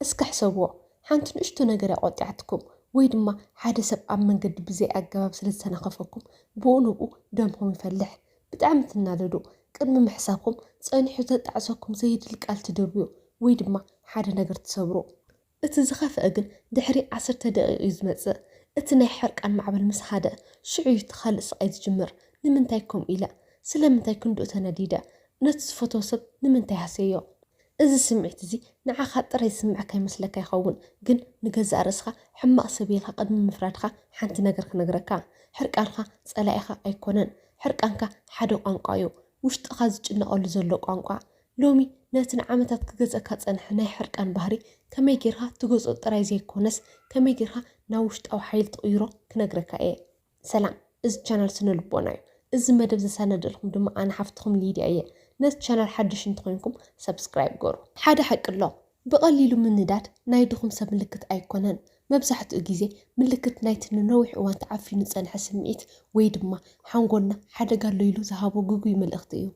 እስከ ሕሰብዎ፣ ሓንቲ ንእሽቶ ነገር እያ ቆጢዓትኩም፣ ወይ ድማ ሓደ ሰብ ኣብ መንገዲ ብዘይ ኣገባብ ስለ ዝተናኸፈኩም ብኡ ንብኡ ደምኹም ይፈልሕ። ብጣዕሚ ትናደዱ፣ ቅድሚ ምሕሳብኩም ጸኒሑ ዘጣዕሰኩም ዘየድሊ ቃል ትድርብዩ፣ ወይ ድማ ሓደ ነገር ትሰብሩ። እቲ ዝኸፍኣ ግን ድሕሪ ዓሰርተ ደቒቕ እዩ ዝመጽእ። እቲ ናይ ሕርቃን ማዕበል ምስ ኻደ፣ ሽዑ እዩ እቲ ኻልእ ስቓይ ዝጅምር። ንምንታይ ከምኡ ኢለ? ስለምንታይ ክንድኡ ተነዲደ? ነቲ ዝፈትዎ ሰብ ንምንታይ ሃስየዮ? እዚ ስምዒት እዚ ንዓኻ ጥራይ ዝስምዓካ ይመስለካ ይኸውን፣ ግን ንገዛእ ርእስኻ ሕማቕ ሰብ ኢልካ ቅድሚ ምፍራድካ ሓንቲ ነገር ክነግረካ፣ ሕርቃንካ ጸላኢኻ ኣይኮነን፣ ሕርቃንካ ሓደ ቋንቋ እዩ፣ ውሽጥኻ ዝጭነቐሉ ዘሎ ቋንቋ። ሎሚ ነቲ ንዓመታት ክገዝኣካ ዝጸንሐ ናይ ሕርቃን ባህሪ ከመይ ጌርካ ትገዝኦ ጥራይ ዘይኮነስ ከመይ ጌርካ ናብ ውሽጣዊ ሓይሊ ትቕይሮ ክነግረካ እየ። ሰላም እዚ ቻናል ስነ ልቦና እዩ እዚ መደብ ዘሳነደልኩም ድማ ኣነ ሓፍትኩም ሊድያ እየ ነዚ ቻናል ሓድሽ እንተኮይንኩም subscribe ግበሩ። ሓደ ሓቂ ኣሎ ብቀሊሉ ምንዳድ ናይ ድኹም ሰብ ምልክት ኣይኮነን መብዛሕትኡ ግዜ ምልክት ናይቲ ንነዊሕ እዋን ተዓፊኑ ዝጸንሐ ስምዒት ወይ ድማ ሓንጎልና ሓደጋ ኣሎ ኢሉ ዝሃቦ ግጉይ መልእኽቲ እዩ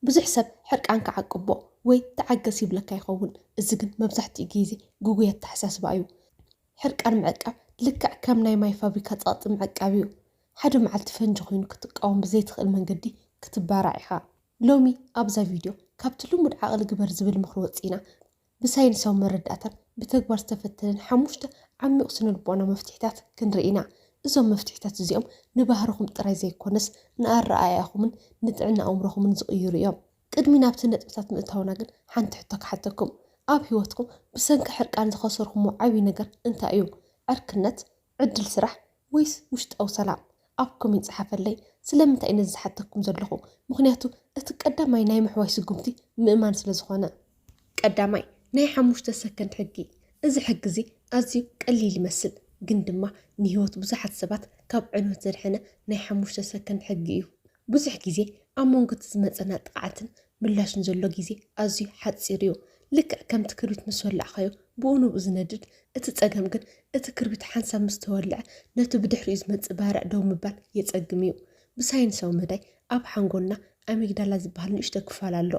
ብዙሕ ሰብ ሕርቃንካ ዓቅቦ ወይ ተዓገስ ይብለካ ይኸውን፣ እዚ ግን መብዛሕትኡ ግይዜ ግጉይ ኣተሓሳስባ እዩ። ሕርቃን ምዕቃብ ልክዕ ከም ናይ ማይ ፋብሪካ ጸቕጢ ምዕቃብ እዩ። ሓደ መዓልቲ ፈንጂ ኮይኑ ክትቃወም ብዘይትኽእል መንገዲ ክትባራዕ ኢኻ። ሎሚ ኣብዛ ቪድዮ ካብቲ ልሙድ ዓቕሊ ግበር ዝብል ምኽሪ ወጺእና ብሳይንሳዊ መረዳእታን ብተግባር ዝተፈተነን ሓሙሽተ ዓሚቝ ስነልቦናዊ መፍትሒታት ክንርኢ ኢና። እዞም መፍትሒታት እዚኦም ንባህርኹም ጥራይ ዘይኰነስ ንኣረኣእያኹምን ንጥዕና ኣእምሮኹምን ዝቕይሩ እዮም። ቅድሚ ናብቲ ነጥብታት ምእታውና ግን ሓንቲ ሕቶ ክሓተኩም። ኣብ ህይወትኩም ብሰንኪ ሕርቃን ዝኸሰርኩሞ ዓብዪ ነገር እንታይ እዩ? ዕርክነት? ዕድል ስራሕ ወይስ ውሽጣዊ ሰላም ኣብ ኮሜንት ጸሓፈለይ ስለምንታይ ነዚ ዝሓተኩም ዘለኹ ምኽንያቱ እቲ ቀዳማይ ናይ ምሕዋይ ስጉምቲ ምእማን ስለ ዝኾነ። ቀዳማይ ናይ ሓሙሽተ ሰከንድ ሕጊ እዚ ሕጊ እዚ ኣዝዩ ቀሊል ይመስል ግን ድማ ንህይወት ብዙሓት ሰባት ካብ ዕንወት ዘድሐነ ናይ ሓሙሽተ ሰከንድ ሕጊ እዩ ብዙሕ ግዜ ኣብ መንጎ'ቲ ዝመጸና ጥቕዓትን ምላሽን ዘሎ ግዜ ኣዝዩ ሓጺር'ዩ። ልክዕ ከምቲ ክርቢት ምስ ወላዕካዮ ብኡ ንብኡ ዝነድድ፣ እቲ ጸገም ግን እቲ ክርቢት ሓንሳብ ምስ ተወልዐ ነቲ ብድሕሪኡ ዝመጽእ ባርዕ ደው ምባል የጸግም'ዩ። ብሳይንሳዊ መዳይ ኣብ ሓንጎልና ኣሚግዳላ ዝበሃል ንእሽቶ ክፋል ኣሎ።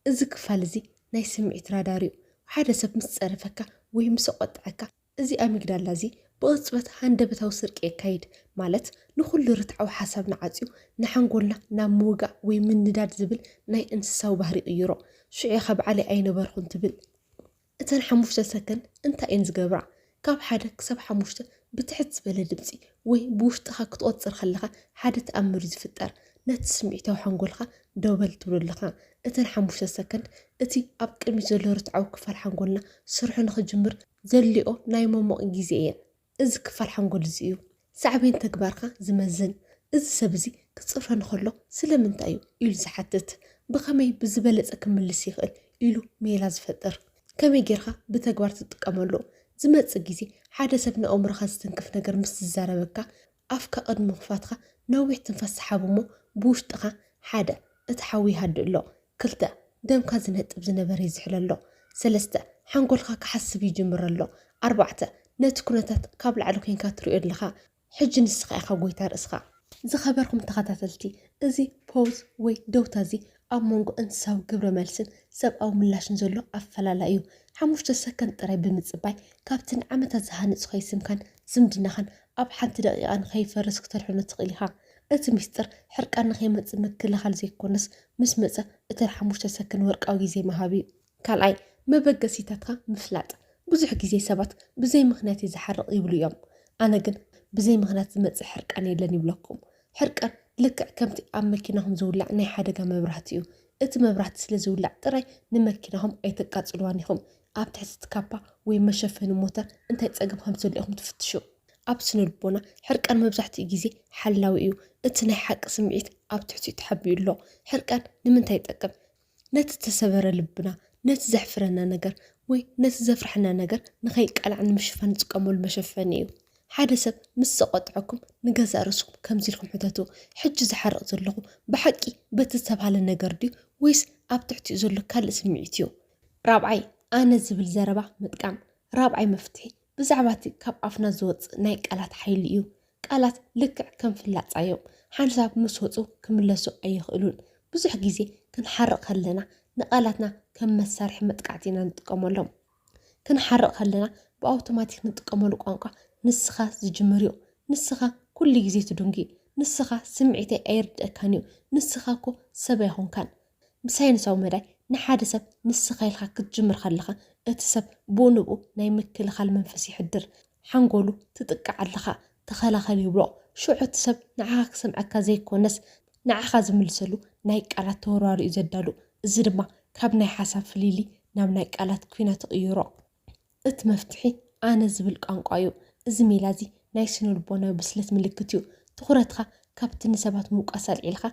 እዚ ክፋል እዚ ናይ ስምዒት ራዳር'ዩ። ሓደ ሰብ ምስ ጸረፈካ ወይ ምስ ኣቖጠዐካ፣ እዚ ኣሚግዳላ እዚ ብቕጽበት ሃንደበታዊ ስርቂ የካይድ፣ ማለት ንኹሉ ርትዓዊ ሓሳብና ዓጽዩ ንሓንጎልና ናብ ምውጋእ ወይ ምንዳድ ዝብል ናይ እንስሳዊ ባህሪ ይቕይሮ። ሽዑ ኢኻ ባዕለይ ኣይነበርኹን ትብል። እተን ሓሙሽተ ሰከንድ እንታይ እየን ዝገብራ? ካብ ሓደ ክሳብ ሓሙሽተ ብትሕት ዝበለ ድምጺ ወይ ብውሽጥኻ ክትቖጽር ከለኻ ሓደ ተኣምር እዩ ዝፍጠር። ነቲ ስምዒታዊ ሓንጎልካ ደው በል ትብሎ ኣለኻ። እተን ሓሙሽተ ሰከንድ እቲ ኣብ ቅድሚት ዘሎ ርትዓዊ ክፋል ሓንጎልና ስርሑ ንኽጅምር ዘልኦ ናይ መሞቕ ግዜ እየን። እዚ ክፋል ሓንጎል እዚ እዩ ሳዕቤን ተግባርካ ዝመዝን። እዚ ሰብ እዚ ክጽረን ከሎ ስለምንታይ እዩ ኢሉ ዝሓትት፣ ብኸመይ ብዝበለጸ ክምልስ ይኽእል ኢሉ ሜላ ዝፈጥር፣ ከመይ ጌርካ ብተግባር ትጥቀመሉ። ዝመጽእ ግዜ ሓደ ሰብ ንኣእምሮኻ ዝትንክፍ ነገር ምስ ዝዛረበካ ኣፍካ ቅድሚ ምኽፋትካ ነዊሕ ትንፋስ ስሓብ እሞ ብውሽጥኻ ሓደ እቲ ሓዊ ይሃድእ ኣሎ፣ ክልተ ደምካ ዝነጥብ ዝነበረ ይዝሕሎ ኣሎ፣ ሰለስተ ሓንጎልካ ክሓስብ ይጅምር ኣሎ፣ ኣርባዕተ ነቲ ኩነታት ካብ ላዕሊ ኮይንካ ትሪኦ ኣለኻ፣ ሕጂ ንስኻ ኢኻ ጎይታ ርእስኻ። ዝኸበርኩም ተኸታተልቲ እዚ ፖውዝ ወይ ደውታ እዚ ኣብ መንጎ እንስሳዊ ግብረ መልስን ሰብኣዊ ምላሽን ዘሎ ኣፈላላይ እዩ። ሓሙሽተ ሰከንድ ጥራይ ብምጽባይ፣ ካብቲ ንዓመታት ዝሃነጽ ከይስምካን ዝምድናኻን ኣብ ሓንቲ ደቒቓ ንኸይፈርስ ክተድሕኖ ትኽእል ኢኻ። እቲ ሚስጥር፣ ሕርቃን ንኸይመጽእ ምክልኻል ዘይኮነስ፣ ምስ መጸ እተን ሓሙሽተ ሰከንድ ወርቃዊ ግዜ ምሃብ እዩ። ካልኣይ፣ መበገሲታትካ ምፍላጥ። ብዙሕ ግዜ ሰባት ብዘይ ምኽንያት እየ ዝሓርቕ ይብሉ እዮም። ኣነ ግን ብዘይ ምኽንያት ዝመጽእ ሕርቃን የለን ይብለኩም። ሕርቃን ልክዕ ከምቲ ኣብ መኪናኹም ዝውላዕ ናይ ሓደጋ መብራህቲ እዩ። እቲ መብራህቲ ስለ ዝውላዕ ጥራይ ንመኪናኹም ኣይተቃጽልዋን ኢኹም። ኣብ ትሕቲ እቲ ካፓ ወይ መሸፈኒ ሞተር እንታይ ጸገም ከም ዘሎ ኢኹም ትፍትሹ። ኣብ ስነልቦና ሕርቃን መብዛሕትኡ ግዜ ሓላዊ እዩ። እቲ ናይ ሓቂ ስምዒት ኣብ ትሕቲኡ ተሓቢኡ ኣሎ። ሕርቃን ንምንታይ ይጠቅም? ነቲ እተሰበረ ልብና፣ ነቲ ዘሕፍረና ነገር ወይ ነቲ ዘፍርሐና ነገር ንኸይቃላዕ ንምሽፋን ንጥቀመሉ መሸፈኒ እዩ። ሓደ ሰብ ምስ ዘቖጥዐኩም ንገዛእ ርእስኩም ከምዚ ኢልኩም ሕተቱ፣ ሕጂ ዝሓርቕ ዘለኹ ብሓቂ በቲ ዝተባህለ ነገር ድዩ ወይስ ኣብ ትሕቲኡ ዘሎ ካልእ ስምዒት እዩ? ራብዓይ፣ ኣነ ዝብል ዘረባ ምጥቃም። ራብዓይ መፍትሒ፣ ብዛዕባ እቲ ካብ ኣፍና ዝወጽእ ናይ ቃላት ሓይሊ እዩ። ቃላት ልክዕ ከም ፍላጻ እዮም፣ ሓንሳብ ምስ ወጹ ክምለሱ ኣይኽእሉን። ብዙሕ ግዜ ክንሓርቕ ከለና ንቃላትና ከም መሳርሒ መጥቃዕቲ ኢና ንጥቀመሎም። ክንሓርቕ ከለና ብኣውቶማቲክ ንጥቀመሉ ቋንቋ ንስኻ ዝጅምር እዩ። ንስኻ ኩሉ ግዜ ትዱንጊ፣ ንስኻ ስምዒተይ ኣይርድኣካን እዩ፣ ንስኻ እኮ ሰብ ኣይኮንካን፣ ብሳይንሳዊ መዳይ ንሓደ ሰብ ንስኻ ኢልካ ክትጅምር ከለኻ እቲ ሰብ ብኡ ንብኡ ናይ ምክልኻል መንፈስ የሕድር፣ ሓንጎሉ ትጥቃዕ ኣለኻ ተኸላኸል ይብሎ፣ ሽዑ እቲ ሰብ ንዓኻ ክሰምዐካ ዘይኮነስ ንዓኻ ዝምልሰሉ ናይ ቃላት ተወርዋር'ዩ ዘዳሉ፣ እዚ ድማ ካብ ናይ ሓሳብ ፍልልይ ናብ ናይ ቃላት ኲናት ይቕይሮ። እት መፍትሒ ኣነ ዝብል ቋንቋ እዩ። እዚ ሜላ እዚ ናይ ስነልቦናዊ ብስለት ምልክት እዩ። ትኹረትኻ ካብቲ ንሰባት ምውቃስ ኣልዒልካ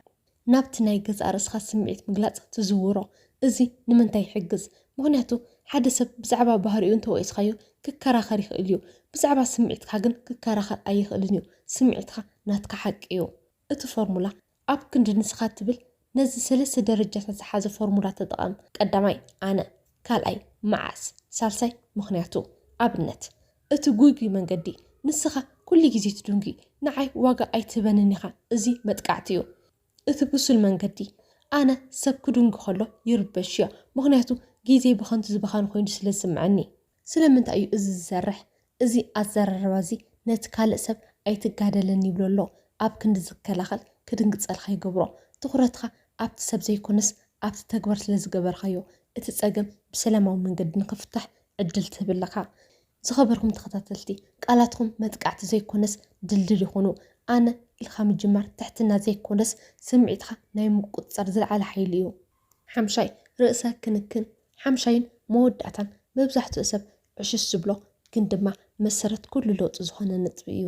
ናብቲ ናይ ገዛእ ርእስኻ ስምዒት ምግላጽ ትዝውሮ። እዚ ንምንታይ ይሕግዝ? ምኽንያቱ ሓደ ሰብ ብዛዕባ ባህሪኡ እንተወቂስካዮ ክከራኸር ይኽእል እዩ። ብዛዕባ ስምዒትካ ግን ክከራኸር ኣይኽእልን እዩ። ስምዒትካ ናትካ ሓቂ እዩ። እቲ ፎርሙላ ኣብ ክንዲ ንስኻ ትብል ነዚ ሰለስተ ደረጃታት ዝሓዘ ፎርሙላ ተጠቐም፣ ቀዳማይ፣ ኣነ፣ ካልኣይ፣ መዓስ፣ ሳልሳይ፣ ምኽንያቱ። ኣብነት፣ እቲ ጉጉይ መንገዲ፣ ንስኻ ኩሉ ግዜ ትድንጒ፣ ንዓይ ዋጋ ኣይትህበንን ኢኻ፣ እዚ መጥቃዕቲ እዩ። እቲ ብሱል መንገዲ፣ ኣነ፣ ሰብ ክድንጒ ከሎ ይርበሽዮ፣ ምኽንያቱ ግዜይ ብኸንቱ ዝባኸን ኮይኑ ስለ ዝስምዐኒ። ስለምንታይ እዩ እዚ ዝሰርሕ? እዚ ኣዘራርባ እዚ ነቲ ካልእ ሰብ ኣይትጋደለኒ ይብሎ ኣሎ ኣብ ክንዲ ዝከላኸል ክድንግጸልካ ይገብሮ። ትኹረትካ ኣብቲ ሰብ ዘይኮነስ ኣብቲ ተግባር ስለ ዝገበርካዮ እቲ ጸገም ብሰላማዊ መንገዲ ንኽፍታሕ ዕድል ትህብ ኣለኻ። ዝኸበርኩም ተኸታተልቲ ቃላትኩም መጥቃዕቲ ዘይኮነስ ድልድል ይኹኑ። ኣነ ኢልካ ምጅማር ትሕትና ዘይኮነስ ስምዒትካ ናይ ምቁጽጻር ዝለዓለ ሓይሊ እዩ። ሓምሻይ ርእሰ ክንክን ሓምሻይን መወዳእታን መብዛሕትኡ ሰብ ዕሽሽ ዝብሎ ግን ድማ መሰረት ኩሉ ለውጢ ዝኾነ ነጥቢ እዩ።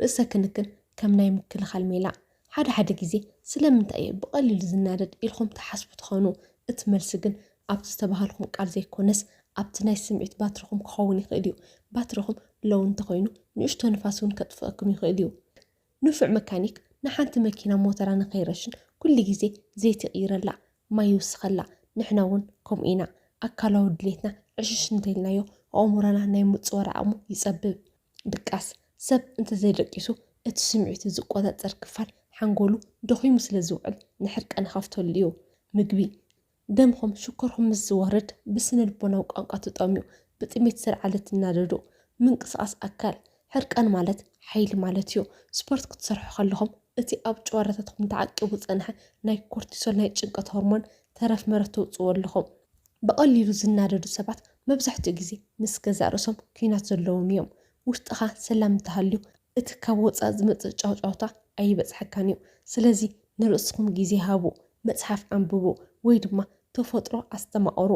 ርእሰ ክንክን ከም ናይ ምክልኻል ሜላ ሓደ ሓደ ግዜ ስለምንታይ እዩ ብቐሊሉ ዝናደድ ኢልኹም ትሓስቡ ትኾኑ። እቲ መልሲ ግን ኣብቲ ዝተባሃልኩም ቃል ዘይኮነስ ኣብቲ ናይ ስምዒት ባትሪኹም ክኸውን ይኽእል እዩ። ባትሪኹም ሎው እንተኾይኑ ንእሽቶ ንፋስ እውን ከጥፍኣኩም ይኽእል እዩ። ንፉዕ መካኒክ ንሓንቲ መኪና ሞተራ ንከይረሽን ኩሉ ግዜ ዘይቲ ይቅይረላ ማይ ይውስከላ ንሕና ውን ከምኡ ኢና ኣካላዊ ድሌትና ዕሽሽ እንተኢልናዮ ኣእሙሮና ናይ ምጽዋር ዓቅሙ ይጸብብ ድቃስ ሰብ እንተዘይደቂሱ እቲ ስምዒቱ ዝቆጻጸር ክፋል ሓንጎሉ ደኺሙ ስለዝውዕል ንሕርቀን ይኸፍተሉ እዩ ምግቢ ደምኹም ሽኮርኩም ምስ ዝወርድ ብስነልቦናዊ ቋንቋ ትጠምዩ፣ ብጥሜት ዝልዓለ ትናደዱ፣ ምንቅስቓስ ኣካል፣ ሕርቃን ማለት ሓይሊ ማለት እዩ። ስፖርት ክትሰርሑ ከለኹም እቲ ኣብ ጭዋዳታትኩም ተዓቂቡ ዝጸንሐ ናይ ኮርቲሶል ናይ ጭንቀት ሆርሞን ተረፍ መረፍ ተውጽእዎ ኣለኹም። ብቐሊሉ ዝናደዱ ሰባት መብዛሕትኡ ግዜ ምስ ገዛእ ርእሶም ኲናት ዘለዎም እዮም። ውሽጥኻ ሰላም እንተሃልዩ እቲ ካብ ወጻኢ ዝመጽእ ጫውጫውታ ኣይበጽሓካን እዩ። ስለዚ ንርእስኹም ግዜ ሃቡ፣ መጽሓፍ ኣንብቡ፣ ወይ ድማ ተፈጥሮ ኣስተማቕሩ።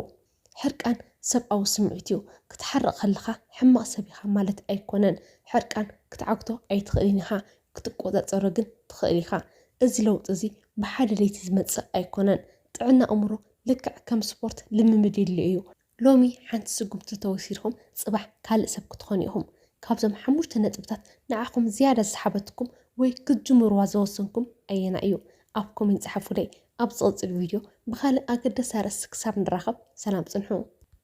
ሕርቃን ሰብኣዊ ስምዒት እዩ። ክትሓርቕ ከለኻ ሕማቕ ሰብ ኢኻ ማለት ኣይኰነን። ሕርቃን ክትዓግቶ ኣይትኽእልን ኢኻ፣ ክትቈጻጸሮ ግን ትኽእል ኢኻ። እዚ ለውጢ እዚ ብሓደ ለይቲ ዝመጽእ ኣይኰነን። ጥዕና ኣእምሮ ልክዕ ከም ስፖርት ልምምድ የድልዮ እዩ። ሎሚ ሓንቲ ስጉምቲ ተወሲድኩም ጽባሕ ካልእ ሰብ ክትኾኑ ኢኹም። ካብዞም ሓሙሽተ ነጥብታት ንዓኹም ዝያዳ ዝሰሓበትኩም ወይ ክትጅምርዋ ዝወሰንኩም ኣየናይ እዩ? ኣብ ኮሜንት ጽሓፉለይ። ኣብ ዝቕጽል ቪድዮ ብኻልእ ኣገዳሲ ኣርእስቲ ክሳብ ንራኸብ ሰላም ጽንሑ።